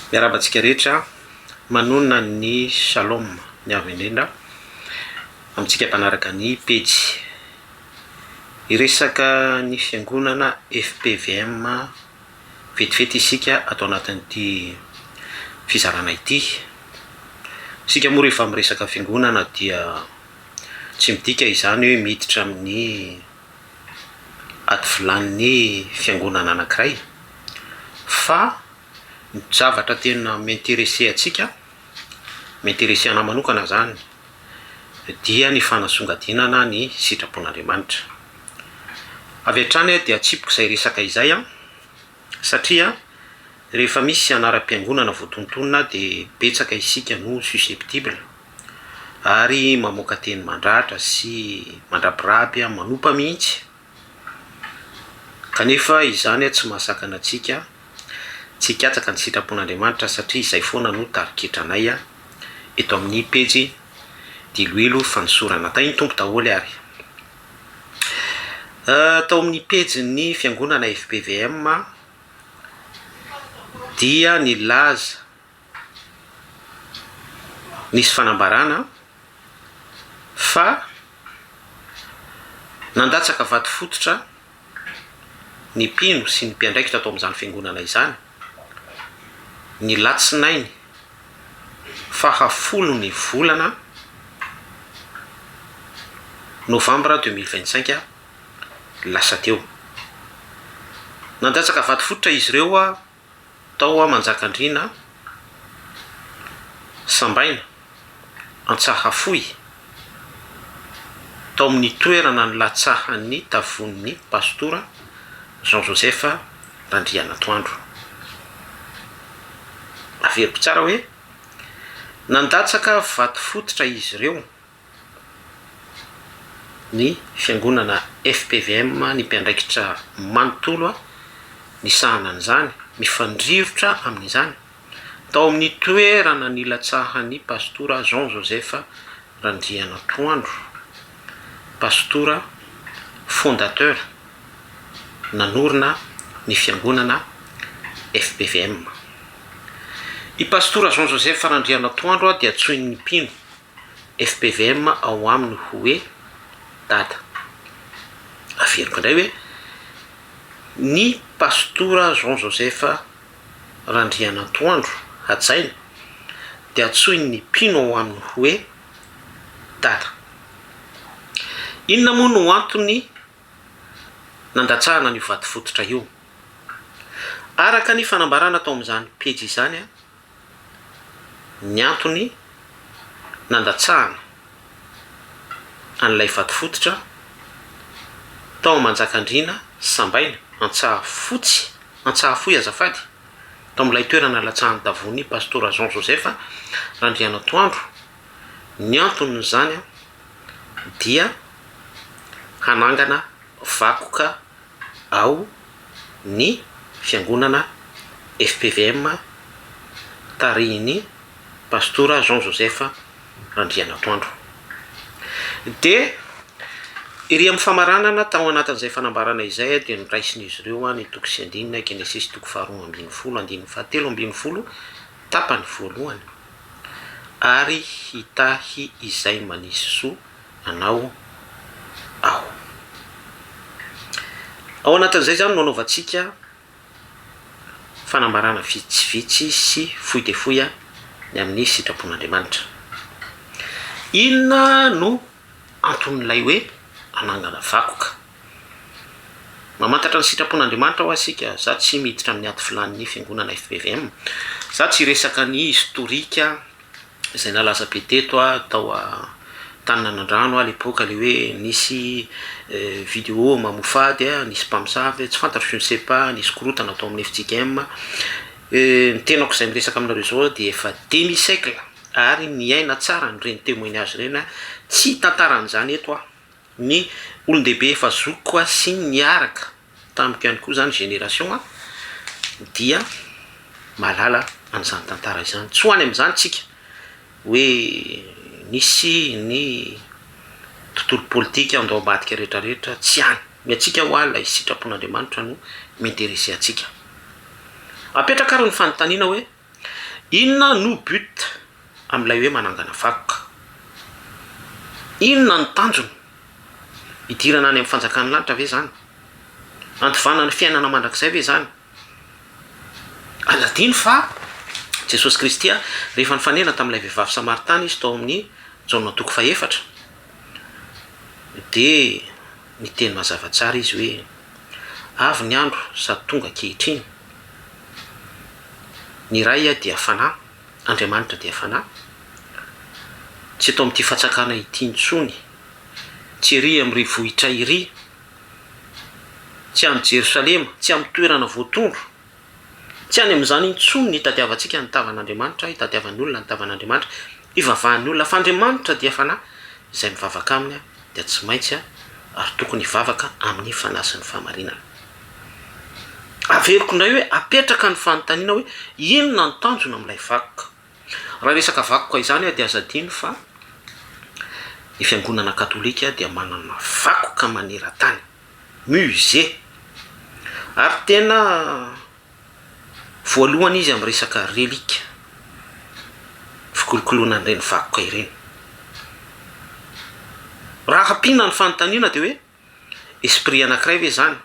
Miarahaba antsika rehetra manonona ny Shalom ny avo indrindra amintsika mpanaraka ny pejy. Hiresaka ny fiangonana FPVM vetivety isika ato anatin'ity fizarana ity. Isika moa rehefa miresaka fiangonana dia tsy midika izany hoe miditra amin'ny ady vilanin'ny fiangonana anankiray fa ny zavatra tena mi-interesser antsika, mi-interesser anah manokana izany dia ny fanasongadinana ny sitrapon'Andriamanitra. Avy hatrany aho dia atsipiko izay resaka izay satria rehefa misy anaram-piangonana voatontonina dia betsaka isika no susceptible. Ary mamoaka teny mandratra sy mandrabiraby manompa mihitsy. Kanefa izany tsy mahasakana antsika tsy hikatsaka ny sitrapon'Andriamanitra satria izay foana no tarigetranay eto amin'ny pejy diloilo fanosorana. Tahin'ny Tompo daholo ary. Tao amin'ny pejin'ny fiangonana FPVM dia nilaza. nisy fanambarana fa nandatsaka vato fototra ny mpino sy ny mpiandraikitra tao amin'izany fiangonana izany, ny latsinainy faha folo ny volana novambra deux mille vingt cinq lasa teo. Nandatsaka vato fototra izy ireo. Tao hoa Manjakandriana an! Sambaina, Antsahafohy, tao amin'ny toerana nilatsahan'ny tavon'ny Pastora Jean Joseph Randrianantoandro. Averiko tsara hoe, nandatsaka vato fototra izy ireo. ny fiangonana FPVM ny mpiandraikitra manontolo nisahana an'izany, mifandrirotra amin'izany, tao amin'ny toerana nilatsahan'ny Pastora Jean Joseph Randrianantoandro, Pastora Fondateur nanorina ny fiangonana FPVM. I Pastora Jean Joseph Randrianantoandro dia antsoin'ny mpino, fpvm ao aminy hoe dada. Averiko indray hoe ny pastora Jean Joseph Randrianantoandro hajaina dia antsoin'ny mpino ao aminy hoe dada. Inona moa no antony nandatsahana an'io vadi-fototra io? Araka ny fanambarana tao amin'izany pejy izany ny antony nandatsahana an'ilay vato fototra tao Amanjakandriana Sambaina, Antsahafotsy, Antsahafohy azafady, tao amin'ilay toerana nalatsahan'ny tavony Pastora Jean Joseph Randrianantoandro. Ny anton'izany dia hanangana vakoka ao ny fiangonana FPVM tarihin'ny Pastora Jean Joseph Randrianantoandro. Dia ery amin'ny famaranana tao anatin'izay fanambarana izay dia noraisin'izy ireo ny toko sy andininy Genesisy toko faharoa ambin'ny folo andininy fahatelo ambin'ny folo tapany voalohany, Ary hitahy izay manisy soa anao aho. Ao anatin'izay izany no anaovantsika fanambarana vitsivitsy sy fohy dia fohy ny amin'ny sitrapon'Andriamanitra. Inona no anton'ilay hoe hanangana vakoka? Mamantatra ny sitrapon'Andriamanitra ho'a isika. Izaho tsy miditra amin'ny ady filàn'ny fiangonana FBVM. Izaho tsy hiresaka ny historique izay nalaza be teto tao Antaninanan-drano à l'époque le hoe nisy vidéo mamofady nisy mpamosavy tsy fantatro je ne sais pas nisy korotana tao amin'ny FJKM ny tenako izay miresaka aminareo zao dia efa demi siècle ary miaina tsara an'ireny témoignage ireny tsy hitantarana izany eto aho ny olon-dehibe efa zokiko koa sy ny niaraka tamiko ihany koa zany génération a dia mahalala an'izany tantara izany, tsy ho any amin'izany tsika hoe nisy ny tontolo politika andao ambadika rehetra rehetra tsy any, ny antsika hoa lay sitrapon'Andriamanitra no mi-interesser antsika. Apetraka ary ny fanontaniana hoe. Inona no but amin'ilay hoe manangana vakoka? Inona no tanjona? Hidirana any amin'ny fanjakan'ny lanitra ve izany? Handovana ny fiainana mandrakizay ve izany? Ary adino fa Jesosy Kristy rehefa nifanena tamin'ilay vehivavy samaritana izy tao amin'ny Jaona toko fahefatra dia niteny mazava tsara izy hoe avy ny andro sady tonga ankehitriny. Ny Ray dia Fanahy, Andriamanitra dia Fanahy, tsy eto amin'ity fatsakana ity intsony, tsy ery amin'irỳ vohitra irỳ, tsy any Jerosalema, tsy amin'ny toerana voatondro, tsy any amin'izany intsony no hitadiavantsika ny tavan'Andriamanitra, hitadiavan'ny olona ny tavan'Andriamanitra, hivavahan'ny olona, fa Andriamanitra dia Fanahy, izay mivavaka Aminy aho. dia tsy maintsy ary tokony hivavaka amin'ny fanahy sy ny fahamarinana. Averiko indray hoe apetraka ny fanontaniana hoe inona ny tanjona amin'ilay vakoka. Raha resaka vakoka izany aho dia aza adino fa ny fiangonana katolika dia manana vakoka maneran-tany, musée, ary tena Voalohany izy amin'ny resaka relique, fikolokoloana an'ireny vakoka ireny. Raha hampiana ny fanontaniana dia hoe, esprit anankiray ve izany?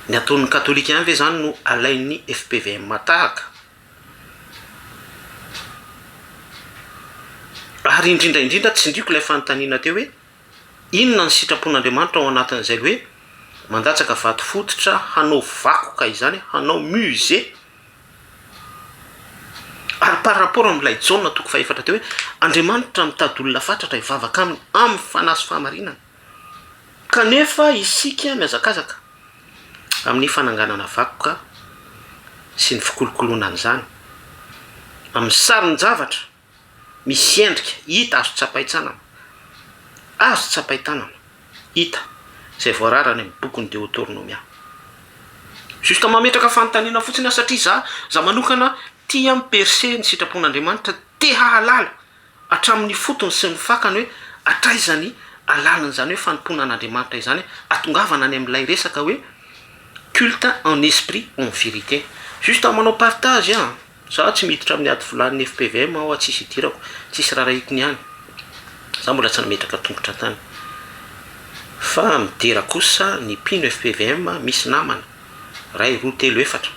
Ny ataon'ny katolika ihany ve izany no alain'ny FPVM tahaka? Ary indrindra indrindra tsindriako ilay fanontaniana teo hoe. Inona ny sitrapon'Andriamanitra ao anatin'izay hoe mandatsaka vato fototra hanao vakoka izany, hanao musée? Ary par rapport amin'ilay Jaona toko fahefatra teo hoe Andriamanitra mitady olona fatratra hivavaka aminy amin'ny fanahy sy fahamarinana, kanefa isika mihazakazaka amin'ny fananganana vakoka sy ny fikolokoloana an'izany amin'ny sarin-javatra. misy endrika hita azo tsapain-tsanana, azo tsapain-tanana, hita, izay voarara any amin'ny bokin'ny Deotornomia. Juste mametraka fanontaniana fotsiny aho satria za, za manokana tia mi-percer ny sitrapon'Andriamanitra, te hahalala hatramin'ny fotony sy ny fakany hoe hatraiza ny alalan'izany hoe fanompoana an'Andriamanitra izany. Atongavana any amin'ilay resaka hoe culte en esprit en vérité. Juste manao partage an! Za tsy miditra amin'ny ady volan'ny fpvm aho a tsisy idirako tsisy rarahiko ny any za mbola tsy nametraka tongotra tany fa midera kosa ny mpino fpvm misy namana ray roa telo efatra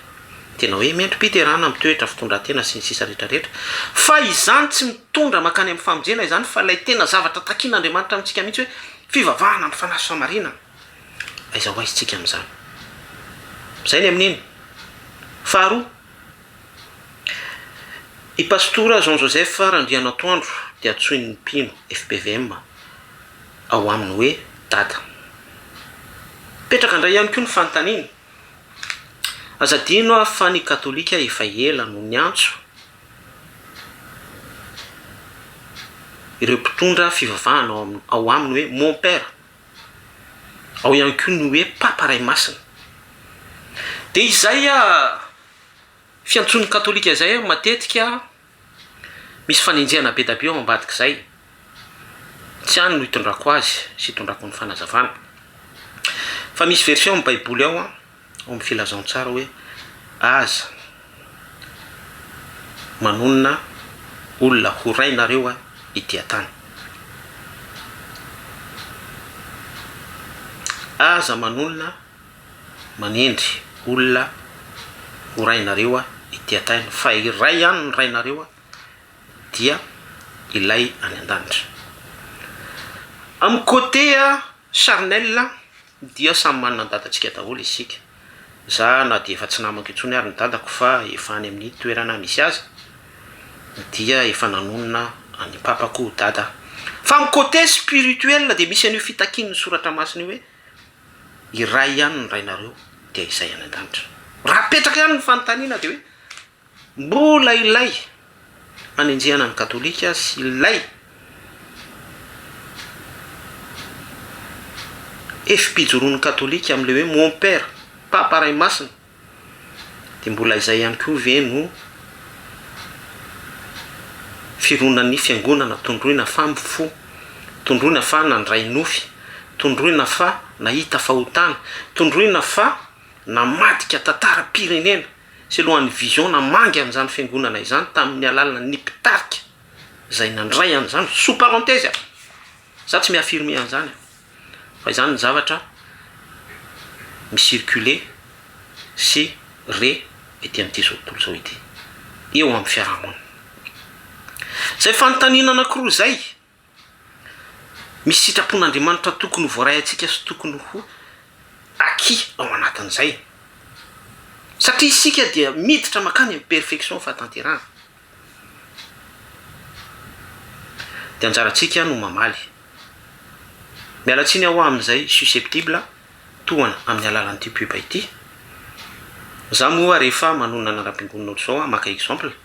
tena hoe mendri-piderana mitoetra fitondratena sy ny sisa rehetra rehetra fa izany tsy mitondra makany amin'ny famonjena izany fa ilay tena zavatra takin'andriamanitra amintsika mihitsy hoe fivavahana amin'ny fanahy sy famarinana aiza ho aizintsika amin'izany izay ny amin'iny faharoa I Pastora Jean Joseph Randrianantoandro dia antsoin'ny mpino FPVM ao aminy hoe Dada. Mipetraka indray ihany koa ny fanontaniana, aza adino aho fa ny Katolika efa ela no niantso ireo mpitondra fivavahana ao aminy hoe Mon Père. Ao ihany koa ny hoe Papa Ray Masina. Dia izay fiantsoan'ny Katolika izay matetika misy fanenjehana be dia be ao ambadik'izay. Tsy any no itondrako azy sy itondrako ny fanazavana. Fa misy version amin'ny Baiboly ao. ao amin'ny filazantsara hoe Aza manonona olona ho rainareo i Diatany. Aza manonona manendry olona ho rainareo i Diatany, fa iray ihany ny Rainareo, dia Ilay any an-danitra. Amin'ny côté charnel, Dia samy manana ny dadantsika daholo isika. Za na dia efa tsy namako intsony ary ny dadako fa efa any amin'ny toerana misy azy dia efa nanonona an'i papako ho dada aho. Fa amin'ny côté spirituel dia misy an'io fitakian'ny soratra masina io hoe iray ihany ny rainareo dia izay any an-danitra. Raha apetraka ihany ny fanontaniana dia hoe. Mbola ilay anenjehana ny Katolika sy ilay hevi-pijoroan'ny Katolika amin'ilay hoe Mon Père, Papa Ray Masina, dia mbola izay ihany koa ve no fironan'ny Fiangonana tondroina fa mifo, tondroina fa nandray nofy, tondroina fa nahita fahotana, tondroina fa namadika tantaram-pirenena? sy lohan'ny vision namangy an'izany fiangonana izany tamin'ny alalana ny mpitarika izay nandray an'izany, sous parenthèse a! za tsy mi-affirmer an'izany a! fa izany ny zavatra mi-circuler sy re ety amin'ity zao tontolo zao ity eo amin'ny fiarahamonina. Izay fanontaniana anankiroa izay Misy sitrapon'Andriamanitra tokony ho voaray antsika sy tokony ho acquis ao anatin'izay. Satria isika dia miditra mankany amin'ny perfection fahatanterahana. Dia anjarantsika no mamaly. Miala tsiny aho amin'izay susceptible tohana amin'ny alalan'ity pub ity. Za moa rehefa manonona ny anabem-piangonana ohatr'izao aho maka exemple.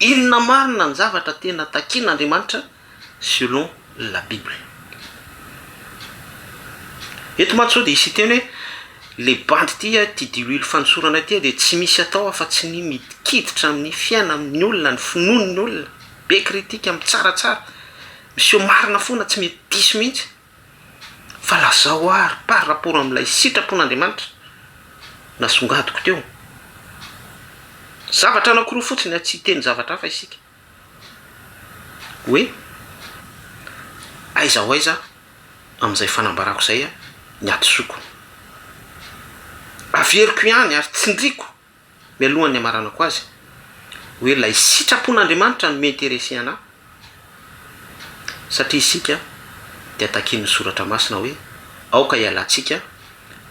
Inona marina ny zavatra tena takian'Andriamanitra selon la Bible? Eto mantsy zao dia hisy hiteny hoe le bandy ity a, ity diloilo fanosorana ity a dia tsy misy atao afa tsy ny mikiditra amin'ny fiaina amin'ny olona, ny finoan'ny olona, be critique, mitsaratsara, miseho marina foana, tsy mety diso mihitsy. Fa lazao ary par rapport amin'ilay sitrapon'Andriamanitra nasongadiko teo. Zavatra anankiroa fotsiny an, tsy hiteny zavatra hafa isika. Hoe aiza ho aiza amin'izay fanambarako izay ny hadisoako. Averiko ihany ary tsindriako mialohan'ny hamaranako azy hoe ilay sitrapon'Andriamanitra no mi-interesser anà satria isika dia takian'ny Soratra Masina hoe aoka hialantsika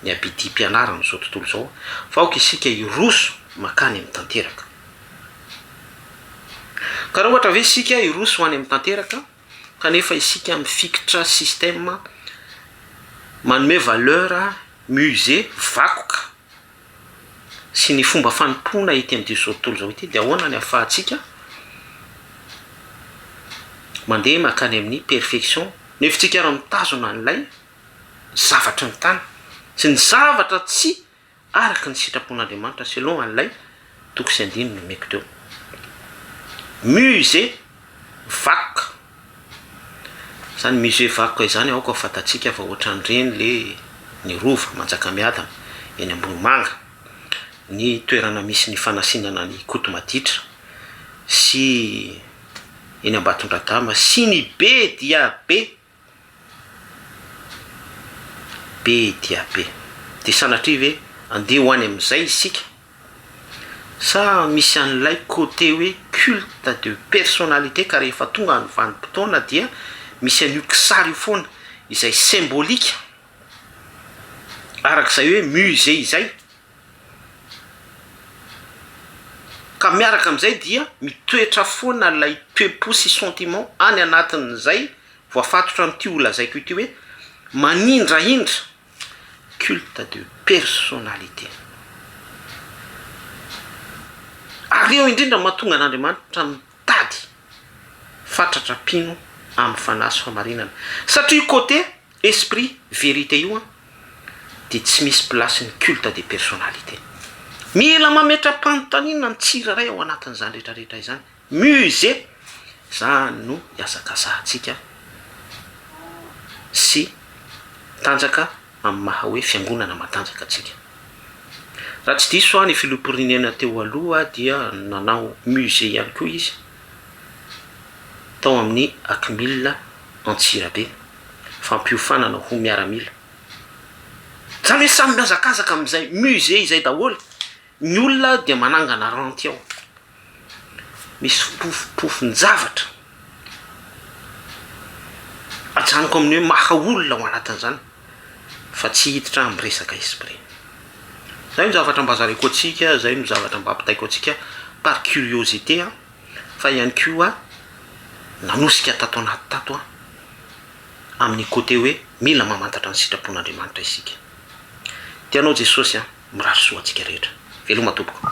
ny habidim-pianaran'izao tontolo izao fa aoka isika hiroso mankany amin'ny tanteraka. Ka raha ohatra ve isika hiroso ho any amin'ny tanteraka kanefa isika mifikitra système manome valeur musée vakoka sy ny fomba fanompoana ety amin'izao tontolo izao ity dia ahoana ny ahafahantsika mandeha mankany amin'ny perfection noho izy tsika raha mitazona an'ilay zavatry ny tany sy ny zavatra tsy araka ny sitrapon'Andriamanitra selon an'ilay Toko sy andininy nomeko teo. Musée vakoka. Izany musée vakoka izany aoka ho fantatsika fa ohatran'ireny le ny Rova Manjakamiadana eny Ambohimanga, ny toerana misy ny fanasinana an'i Koto Maditra sy eny Ambatondradama sy ny be dia be. Be dia be. Dia sanatria ve andeha ho any amin'izay isika? Sa misy an'ilay côté hoe culte de personnalité ka rehefa tonga ny vanim-potoana dia misy an'io kisary io foana izay symbolique, araka izay hoe musée izay? Ka miaraka amin'izay dia mitoetra foana ilay toe-po sy sentiment any anatin'izay voafatotra amin'ity ho lazaiko ity hoe manindrahindra, culte de personnalité. Ary eo indrindra no mahatonga an'Andriamanitra mitady fatratra mpino amin'ny fanahy sy fahamarinana satria côté. Esprit vérité io an dia tsy misy place ny culte de personnalité. Mila mametra-panontaniana ny tsirairay ao anatin'izany rehetra rehetra izany. Musée! Izany no iazakazahantsika sy tanjaka amin'ny maha hoe fiangonana matanjaka antsika. Raha tsy diso aho ny filoham-pirenena teo aloha dia nanao musée ihany koa izy tao amin'ny Akmil Antsirabe. fampiofanana ho miaramila. Zany hoe samy mihazakazaka amin'izay musée izay daholo, ny olona dia manangana ranty ao, misy fompofom-pofon-javatra, ajanoko amin'ny hoe maha olona ao anatin'izany fa tsy hiditra amin'ny resaka esprit. Zay no zavatra mba zareko antsika, zay no zavatra mba ampitaiko antsika par curiosité an. fa ihany koa nanosika tato anaty tato amin'ny côté hoe mila mamantatra ny sitrapon'Andriamanitra isika. Tianao Jesosy an, mirary soa antsika rehetra. Veloma tompoko.